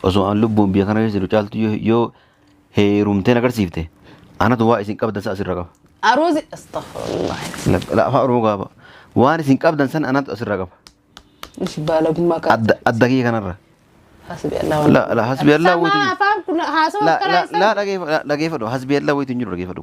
Osoo an lubbuun biyya kana keessa jiru caaltu yoo- yoo heerumteen agarsiifte anatu waa isin qabdan san asirra qaba. Aruuzi astaghfirullah. La- la- Afaan Oromoo gaaba. Waan isin qabdan san anatu asirra qaba. Ishi baalagummaa qaba. Adda adda kiyya kanarra. Hasbi Allah. La la hasbi Allah Sama waytu. afaan kun haasawa La karaa la isaa. la dhageeffa- la- dhageeffadhu hasbi Allah waytu hin jiru dhageeffadhu.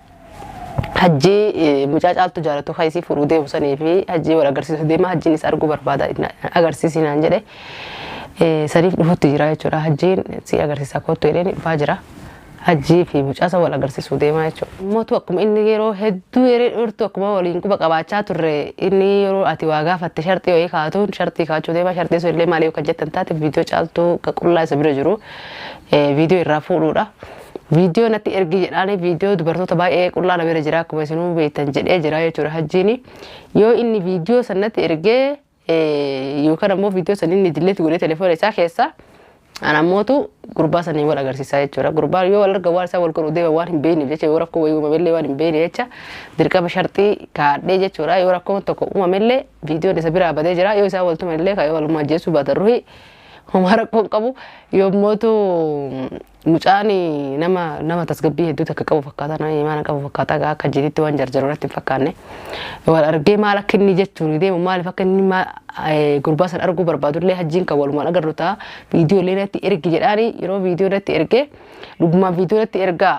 hajjii eh, mucaa caaltu jaalatu kan isii fuudhuu deemu sanii fi hajjii wal agarsiisu deema hajjiin isa arguu barbaada na- agarsiisi naan jedhe eh, saniif dhufutti jira jechuudha hajjiin si agarsiisa kottu jedheen dhufaa jira hajjii fi mucaa isa wal agarsiisuu deemaa jechuudha. Mootu akkuma inni yeroo hedduu yeroo dhortu akkuma waliin quba qabaachaa turre inni yeroo ati waa gaafatte sharxii wayii kaatuun sharxii kaachuu deemaa sharxii sun illee maaliif kan jettan taate viidiyoo caaltuu qullaa isa bira jiru eh, viidiyoo irraa fuudhuudha. Viidiyoo natti ergi jedhaanii viidiyoo dubartoota baay'ee qullaa na bira jira akkuma isinuu beektan jedhee jira jechuudha hajjiini. Yoo inni viidiyoo san natti ergee yookaan ammoo viidiyoo san inni dilleetti godhee telefoona isaa keessa ana ammootu gurbaa saniin wal agarsiisaa jechuudha. Gurbaa yoo wal arga waan isaa wal godhu deema waan hin beekneef jecha yoo rakkoo wayii uumamellee waan hin beekne jecha dirqama sharxii kaadhee jechuudha. Yoo rakkoon tokko uumamellee viidiyoon isa biraa badee jira yoo isaa wal tumellee kan yoo walummaa ajjeesuu baatan ruhii homaa rakkoon qabu yommootu Mucaan nama nama tasgabbii hedduu takka qabu fakkaata nama imaana qabu fakkaata gaa akka jiritti waan jarjaru irratti hin fakkaanne wal argee maal akka inni jechuun deemu maaliif akka inni ma- eh, gurbaa san arguu barbaadu illee hajjiin kan walumaan agarru ta'a viidiyoo illee irratti ergi jedhaani yeroo viidiyoo irratti ergee dhugumaan viidiyoo irratti ergaa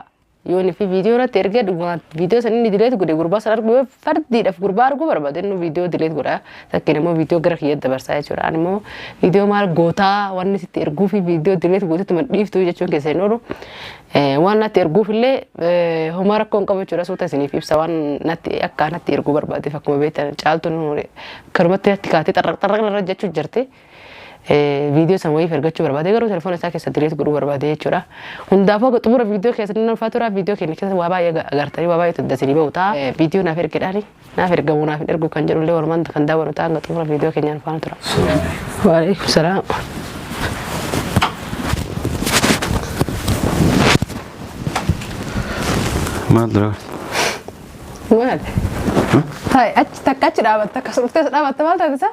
Yoo nufi viidiyoo irratti ergee dhugumaan viidiyoo san inni dileet godhe gurbaa san arguu yoo fardiidhaaf gurbaa arguu barbaade inni viidiyoo dileet godha takkiin immoo viidiyoo gara kiyya dabarsaa jechuudha ani immoo viidiyoo maal gootaa wanni sitti erguu fi viidiyoo dileet gootetti man dhiiftu jechuun keessa hin oolu waan natti erguuf illee homaa rakkoo hin qabu jechuudha suuta isiniif ibsa waan natti akka natti erguu barbaadeef akkuma beektan caaltuun kanumatti natti kaatee xarraq xarraq irra jechuu jirti. viidiyoo san wayiif ergachuu barbaade garuu telefoona isaa keessa direet godhuu barbaade jechuudha. Hundaafuu akka xumura viidiyoo keessatti nan ulfaa tura viidiyoo keenya keessatti waa baay'ee agartanii waa baay'ee tuddasanii ba'u ta'a. Viidiyoo naaf ergedhaani naaf ergamu naaf hin ergu kan jedhu illee walumaan kan daawwannu ta'a hanga xumura viidiyoo keenyaan faana tura. Waalaikum salaam. Maal dura? Maal? Taa'e achi takka achi dhaabatta akkasuma dhuftees dhaabatta maal taate isaa?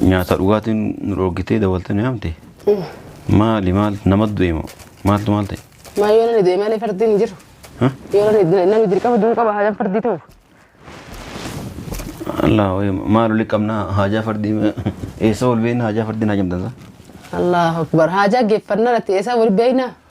Nyaata dhugaatiin nu dhoorgitee dawwaltee nu yaamte. Maali maal nama du'e moo maaltu maal ta'e? Maa yoo namni du'e malee fardiin hin jiru. Hah? Yoo namni namni dirqama du'uu qaba haadaan fardii ta'u. Allaa wayii maal olii qabnaa haajaa fardii eessa ol beekna haajaa fardiin haajamtansa? Allahu akbar haajaa geeffannaa irratti eessaa wal beekna.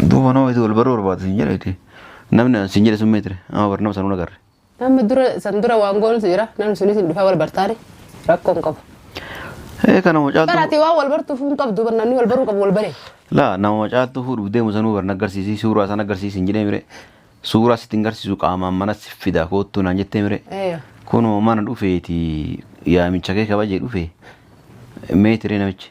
Duuba nama itti wal baruu barbaadu sin jedhe itti. Namni an sin jedhe sun meetire. Amma bar nama sanuu nagarre. Namni dura san dura waan goonus jira. Namni sunis hin dhufaa wal bartaani. Rakkoo hin qabu. Ee kana Bara macaaltu. ati waan wal bartuuf hin qabdu bar namni wal baruu qabu wal bare. Laa nama macaaltu fuudhuuf deemu sanuu bar nagarsiisi suuraa san agarsiisi hin jedhee mire. Suuraa sitti hin garsiisu qaamaan mana si fida koottuu naan jettee mire. Ee. Kunoo mana dhufeeti yaamicha kee kabajee dhufe meetire namichi.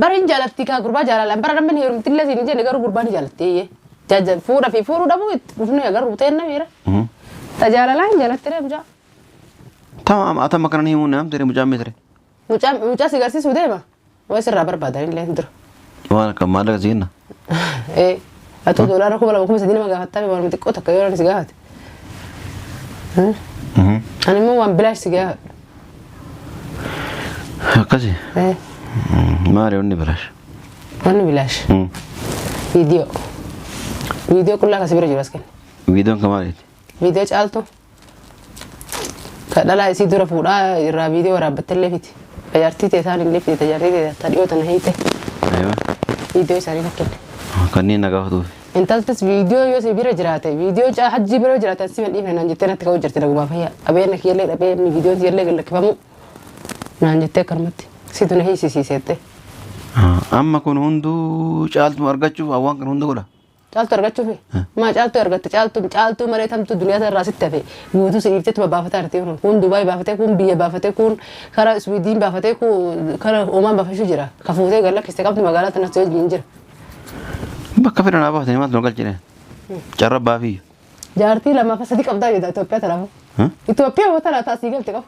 Bar hin jaalattii kaa gurbaa jaalalaan bara namni heerumtillee siin hin jenne garuu gurbaa ni jaalatti eeyyee. Jaajan fuudha fi fuudhuu dhabuu itti dhufnee agarru ta'een namiira. Ta jaalalaa hin jaalatti ree mucaa. Tamam ata makanan himu nam tere mucam tere. Mucaa mucaa si garsiisuu deema. Waa sirraa barbaadan illee hin dura. Waan akka maallaqa siinna. Ee, atuu doolaara kuma lama kuma sadii nama gaafattaa waan miti xiqqoo takka yoo namni si gaafate. Hmm? Ani immoo waan bilaash si gaafadha. Akkasi. Ee, Maali wanni bilaash? Wanni bilaash. Viidiyoo. Viidiyoo qullaa kasi bira jiru as kenna. Viidiyoon kan maaliiti? Viidiyoo caaltu. Ka dhalaa isii dura fuudhaa irraa viidiyoo waraabbattellee fiti. Ka jaartii tee isaan illee fiti. Ta jaartii tee ta dhiyoo tana hiite. Aywa. Viidiyoo isaanii fakkille. Kanneen na gaafatuuf. Intaltis viidiyoo yoo si bira jiraate viidiyoo caa hajjii bira yoo jiraate si madhiifne naan jettee natti ka'uu jirti nagumaa fayyaa. Qabeenya kiyyallee dhabee inni viidiyoon siyallee gad lakkifamuu naan jettee akkanumatti. Situ na hiisisiiseettee. Amma kun hunduu caaltuma argachuuf waan kana hunda godha. Caaltu argachuufi? Maa caaltuu argatte caaltuun caaltuu malee tamtuu duniyaa tanarraa sitti hafe guutuu si dhiifteetuma baafataa jirti kun kun Dubaay baafatee kun biyya baafatee kun kara Iswiidiin baafatee kun kara Oomaan baafachuu jira ka fuutee gad lakkiste qabdi magaalaa tanas si wajjin jira. Bakka fedhan haa baafatanii maaltu nu galchine. Carra baafii. Jaartii lamaa fi sadii qabdaa jedha Itoophiyaa tanaaf. Hmm? Itoophiyaa wata laataa asii galte qabu.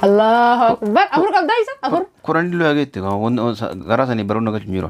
Allahu akbar afur qabdaa isa afur. Kuraan illee hageette garaa sanii baroon nu galchu hin jiru.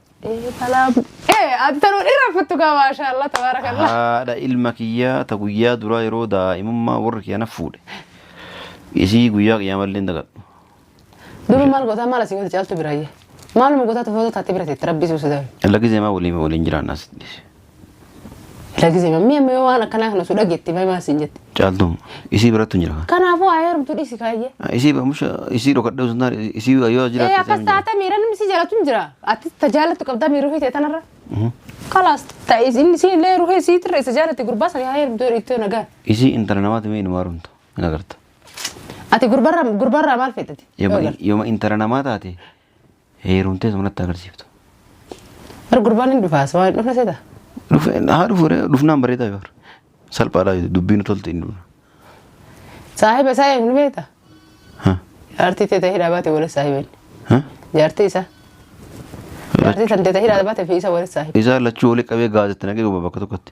Ee talaaf. Ee attanuu dhirra futtu kaa maashaallah tabaarakallah. haadha ilma kiyyaa ta guyyaa duraa yeroo daa'imummaa warri kiyya na fuudhe isii guyyaa qiyaamallee hin dagadhu Duru maal gootaa maal asii goota caaltu biraayye. Maaluma gootaa tufoota taate bira teetti rabbi suusa dabe. lagizee maa waliin waliin jiraanna asitti Lakkisee mammii amma yoo waan akkanaa kana osoo dhageetti baay'ee maal siin jette. Caaltuu isii birattu hin jira. Kanaafuu haa heerumtu dhiisi kaayyee. Isii bamusha isii dhokadhee osoo hin taane isii yoo Ee jiraatti akkas taate miira namni si jaalatu hin jira. Ati ta jaalatu qabdaa miira ofii ta'e tanarra. Kalaas ta'is inni si illee ruhee si tirre isa jaalate gurbaa sana haa heerumtu yoo dhiittoo nagaa. Isii intala namaati mee inumaa rumtu hin agarta. Ati gurbarraa gurbarraa maal feetati? Yoo Yooma intala namaa taate Heerumtee sumnatti agarsiiftu. Bar gurbaan hin dhufaas waan hin dhufne seeta. Dhufe haa dhufu ree dhufnaan bareedaa yoo salphaadha dubbiin tolti hin dhufna. Saahiba isaa eegnu beekta. Ha, Jaartii teetee hidhaa baate waliin saahiba inni. ha? Jaartii isaa. Jaartii san teetee hidhaa baate fi isa waliin saahiba. Isaa lachuu olii qabee gaazexaa nagee bakka tokkotti.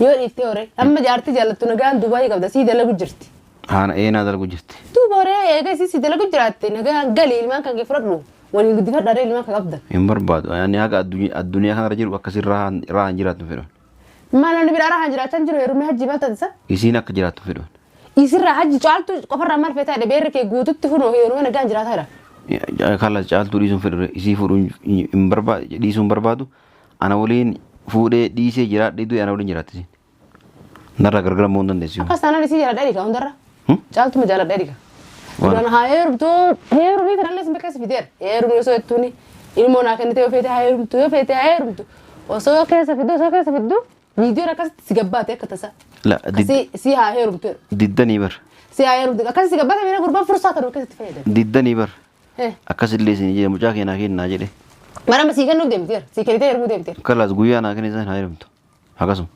Yoo dhiiftee horee amma jaartii jaallattu nagaan Dubaayii qabda sii dalagu jirti. Haana ee naa dalgu jirti. Duuba horee eega isii sii dalagu jiraatte nagaan gali ilmaan kan kee fudhadhu waliin guddifadha haree ilmaan kan qabda. Hin barbaadu. Ani haga addunyaa addunyaa kanarra jiru akkasii rahaan rahaan jiraatu hin fedhan. Maal namni biraa rahaan jiraachaa hin jiru heerumee hajjii maal taasisa? Isiin akka jiraatu hin fedhan. Isirraa hajji caaltu qofarraa maal feetaa jedhe beerri kee guututti hunoo heerumee nagaan jiraataa jedha. Kallas caaltuu dhiisuun fedhu isii fuudhuun hin barbaadu dhiisuun barbaadu Ana waliin fuudhee dhiisee jiraadhee du'e ana waliin jiraatti isin. Narraa gargar ammoo hin dandeessu. Akkas taanaan isii jaaladha dhiga hundarra. Caaltuma jaaladha dhiga. Waan- Duraan haa heerumtu heerumii kanallee isin bakkeessa fideera. Heerumii osoo jettuuni ilmoo naa kennitee yoo feete haa heerumtu yoo feete haa heerumtu. Osoo keessa fiddu osoo keessa fiddu viidiyoon akkasitti si gabbaate akka tasaa. La did- Akkasii si haa heerumtu. diddanii bar. Si haa heerumtu. Akkasii si gabbaate miira gurbaan fursaa kan keessatti fayyadamu. Diddanii bar. Eh. Akkasillee isin jedhe mucaa kee naa kenni naa jedhe. Marama sii kennuuf deemti bar. Sii kennitee heerumuu deemti bar. Kalaas guyyaa naa kenni isaan haa heerumtu. Akkasuma.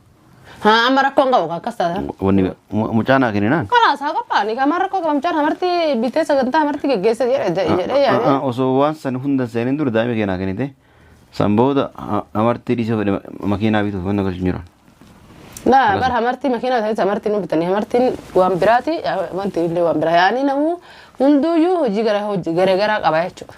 Haa amma rakkoon qabu kaa akkas taata. Wanni mu- mucaa naa kenni naan. Kalaas haa qophaa ni kamaa rakkoo qabu mucaan hamarti bitee sagantaa hamarti geggeessa jedhe jedhe jedhe yaadee. Osoo waan san hundan seenin dura daa'ima kee naa kennite. San booda ha- hamartii dhiisee fedhe makiinaa bituuf mana galchu hin jiran. Na bar hamartii makiinaa ta'etti hamartii nu bitanii hamartiin waan biraati wanti illee waan biraa yaa'anii namuu hunduuyyuu hojii gara hojii gara garaa qaba jechuudha.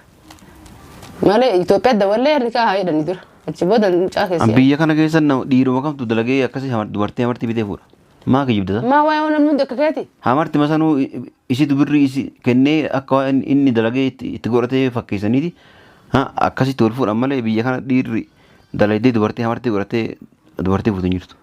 Malee Itoophiyaa dawallee harri kaa haa jedhanii dura achi booda mucaa An keessi. biyya kana keessa nama dhiiruma kamtu dalagee akkasii hamar- dubartii hamartii bitee fuudha. Maa kijibdata? Maa waa'ee waan namni hundi akka keeti? Hamarti masanuu Isitu birrii isi kennee akka waan inni dalagee itti itti godhatee fakkeessaniiti. Ha, Akkasitti wal fuudhan malee biyya kana dhiirri dalaydee dubartii hamartii godhatee dubartii fuutu hin jirtu.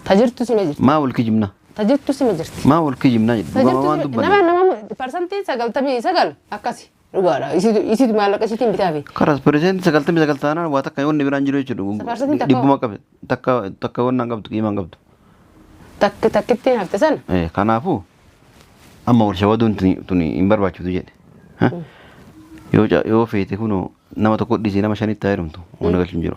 Ta jirtu sima jirti. Maa wal kijibna? Ta jirtu sima jirti. Maa wal kijibna jedhu Ta dhugama jirtu waan sima nama dubbanne. nama parsantiin sagaltamii sagal akkasi. Dhugaadha. Isitu isitu maallaqa isitiin bitaa bee. Karas percent sagaltamii sagal taanaan waa takka wanni biraan jiru jechuudha. Safarsatiin takka- Dhibbuma qabe takka takka wannaan qabdu qiimaan qabdu. Takka takkittiin hafte sana. Eh, Kanaafuu amma wal shawaduun tuni tuni hin barbaachiftu jedhe. Ha? Yoo ca- yoo feete kunoo nama tokko dhiisee nama shanitti haa heerumtu. Wanna galchuun jiru.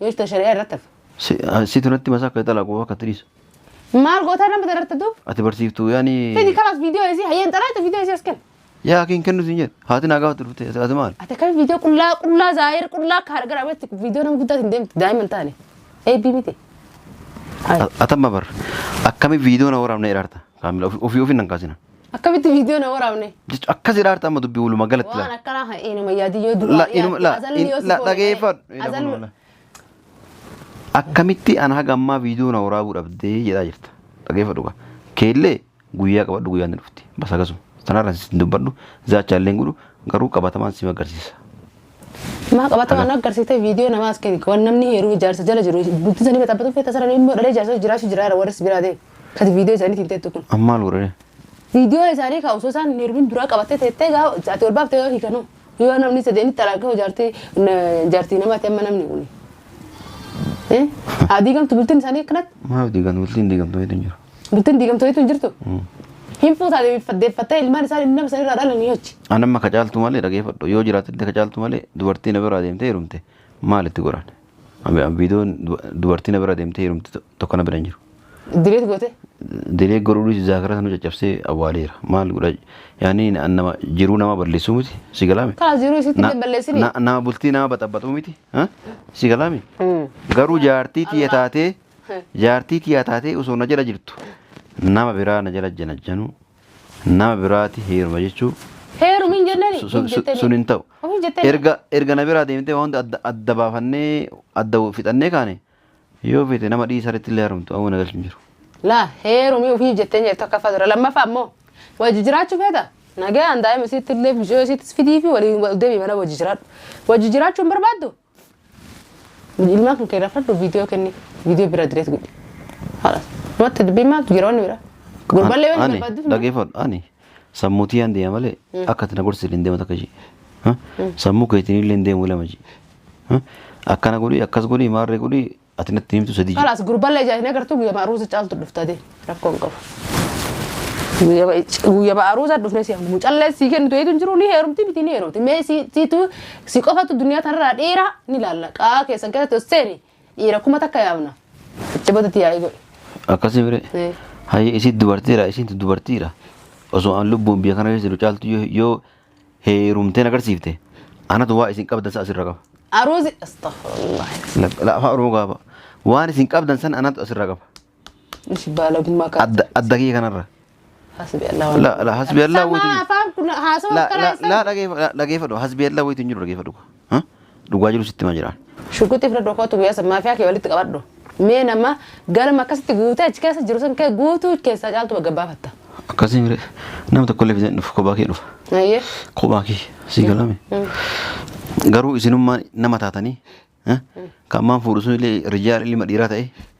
Yoo ishte shari'aa irratti hafa. Si- ah, Situ natti masaa akka italaa koo akka tiriisa. Maal gootaa nama dararte duub? Ati barsiiftuu Fidi yaani kalas viidiyoo isii hayyeen xalaate viidiyoo isii as kenna. yaa kiin kennu siin jedhe haati naa gaafatu dhufte ati ati maal? Ati akkamitti viidiyoo qullaa qullaa zaayir qullaa akka hargara abetti viidiyoo nama guddaa hin deemtu daa'ima hin taane. Eebbii miti. Hayi. Atamma bar akkami viidiyoo na waraabna ilaarta. Kaamila ofi- ofii ofii nan kaasina. Akkamitti viidiyoo na waraabne? Jechuun akkas jedha harta amma dubbii walumaa galatti Waan laala. akkanaa kan eenyu mayyaadii yoo La- duraa inuma- la- dhiyaate azalli yoo in- si la- koole dhageeffadhu. ta'e, Ina azalli- kunoo la. Akkamitti ana haga ammaa viidiyoo na waraabuu dhabdee jedhaa jirta. Dhageeffadhu kaa. Keellee guyyaa qabadhu guyyaa ni dhufti. Bas akkasuma. Sanarra sin dubbadhu zaachaa illee hin godhu garuu qabatamaan si magarsiisa. Maa qabatamaa nu agarsiiste viidiyoo namaa as keni waan namni heeruu ijaarsa jala jiru bultii sanii baxabatuu feeta sarara immoo dhalee ijaarsa jiraachuu jiraara warris biraatee kati viidiyoo isaanii tiimteettu kun. Amma maal godhani? Viidiyoo isaanii kaa osoo isaan heerumin duraa qabattee teettee gaa ati ol baaftee yoo hiikanoo yoo namni sadeenitti talaaqee ijaartii ijaartii namaati amma namni kun. Haa diigamtu bultiin isaanii akkanatti. Maaf diigan bultiin diigamtu hedduun jira. Bultiin diigamtoonitu hin jirtu. Hin fuutaa deeffattee ilmaan isaa inni nama sanirraa dhalan ni hoji. An amma ka caaltu malee dhageeffadhu yoo jiraatte ka caaltu malee dubartii na biraa deemtee heerumte maal itti godhan? Abi- abi- Viidiyoon du- dubartii na biraa deemtee heerumte to- tokko na bira hin jiru. Direet goote. Diree godhuudhis zaakara sana caccabsee awwaaleera. Maal godha? Yaani na- nama jiruu nama balleessuu miti si galaame. Kaas jiruu isitti Na- illee balleessini. na- Nama bultii nama baxabaxuu miti ha? si galaame. Garuu jaartii tiyya taatee Jaartii kiyyaa taatee osoo na jala jirtu nama biraa na jala janajjanuu nama biraati heeruma jechuu Heerumi hin jennani? su- Hin su- jettani. sun hin ta'u. Ofii hin jettani? Erga erga na biraa deemtee waan hunda adda- adda baafannee adda fixannee kaane yoo feete nama dhiisaritti illee heerumtu amma na galchu hin jiru. Laa heerumi ofii hin jettani jettu akka fadura. Lammaffaa immoo wajji jiraachuu feeta? Nagaan daa'ima isiitti illee bishoo isiittis fidii fi waliin wal deebii mana wajji jiraadhu. Wajji jiraachuu hin barbaaddu? Ilmaan kan kee rafadhu viidiyoo kenni viidiyoo bira direet godhi. Haadha. Matti dubbii maal jira wanni bira. Gurballee wanni Ani barbaadduuf dhageeffadhu ani sammuu tiyyaan deema malee akka ati na gorsitu hin deematu akka ishee. Ha? Sammuu keetiin illee hin deemu ilama ishee. Ha? Akkana godhi akkas godhi maarree godhi Ati natti himtu sadii jedhe. Kalaas gurballee ijaa hin agartu guyyama aruuza caaltu dhufta dee rakkoo hin qabu. Guyyama guyyama aruuza dhufne si hamu callee si kennitu eetu hin jiru ni heerumti miti ni heerumti mee si siitu si qofatu duniyaa tanarraa dhiira ni laalla qaa keessan keessatti os seeni dhiira kuma takka yaamna. Itti badati yaa'ii godhi. Akkasii bire. Eh. Hayyee isin dubartiidha isintu dubartiidha. Osoo an lubbuun biyya kana keessa jiru caaltu yoo- yoo heerumteen agarsiifte anatu waa isin qabdan san asirra qaba. Aruuzi astaghfirullah. Lak- la- Afaan Oromoo gaaba. Waan isin qabdan san anatu asirra qaba. Ishi baalagummaa kan. Adda adda kiyya kanarra. Hasbi Allah. La la hasbi Allah Sama waytu. afaan kun haasawa La karaa la la isaa. dhageeffa- la- dhageeffadhu hasbi Allah waytu hin jiru dhageeffadhu. Ha? Dhugaa jiru sitti hima jiraan. Shukuti fira doko tu biasa mafia ke walitti qabadhu. Mee nama galma akkasitti guutee achi keessa jiru san kee guutuu keessaa caaltu bagga baafatta. Akkasii mire nama tokko illee fidee dhufu kophaa kee dhufa. Ayyee. Kophaa kee sii galame. Garuu isinummaan nama taatanii eh, kan maan fuudhu sun illee rijaal ilma dhiiraa ta'e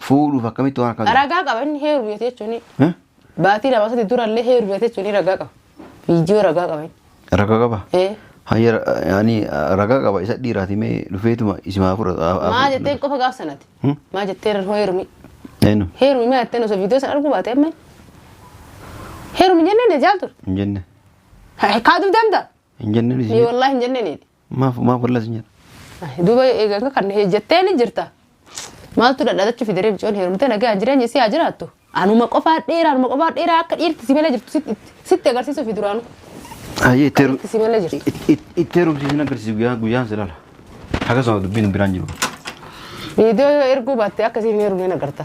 Fuudhuuf akkamitti waan akkanaa. Ragaa qaba inni heeruuf jettee jechuun Eh? baatii lama sadii dura illee heeruuf jettee jechuun ragaa qaba. Viidiyoo ragaa qaba inni. Ragaa qaba. Eh, Hayya ani ragaa qaba isa dhiiraati mee dhufeetuma isimaa fudhata. Maa jetteen qofa gaaf sanati. Hmm? Maa jetteen irra heerumi. Eenyu Heerumi maa jetteen osoo viidiyoo sana arguu baatee amma. Heerumi hin jenneen jaaltu. hin jenne. Haa dubdamta. Hin jenne Ni isii. wallaahi hin jenneen. Maaf maaf wallas nyaata. Duuba eegaa kan jetteen hin jirta. Maaltu dhadhaatachuu fi daree micoon heerumtee nagaan jireenya isii haa jiraattu. Anuma qofaa dheeraa anuma qofaa dheeraa akka dhiirti si malee jirtu sitti agarsiisuu fi duraanu. Ayyee itti heeru- Itti si malee jirtu. it- it- itti heerumsiisin agarsiisu guyyaa guyyaan si lala. Akkasuma dubbiin hin biraan jiru. Viidiyoo yoo erguu baatte akka isiin hin heerumne agarta.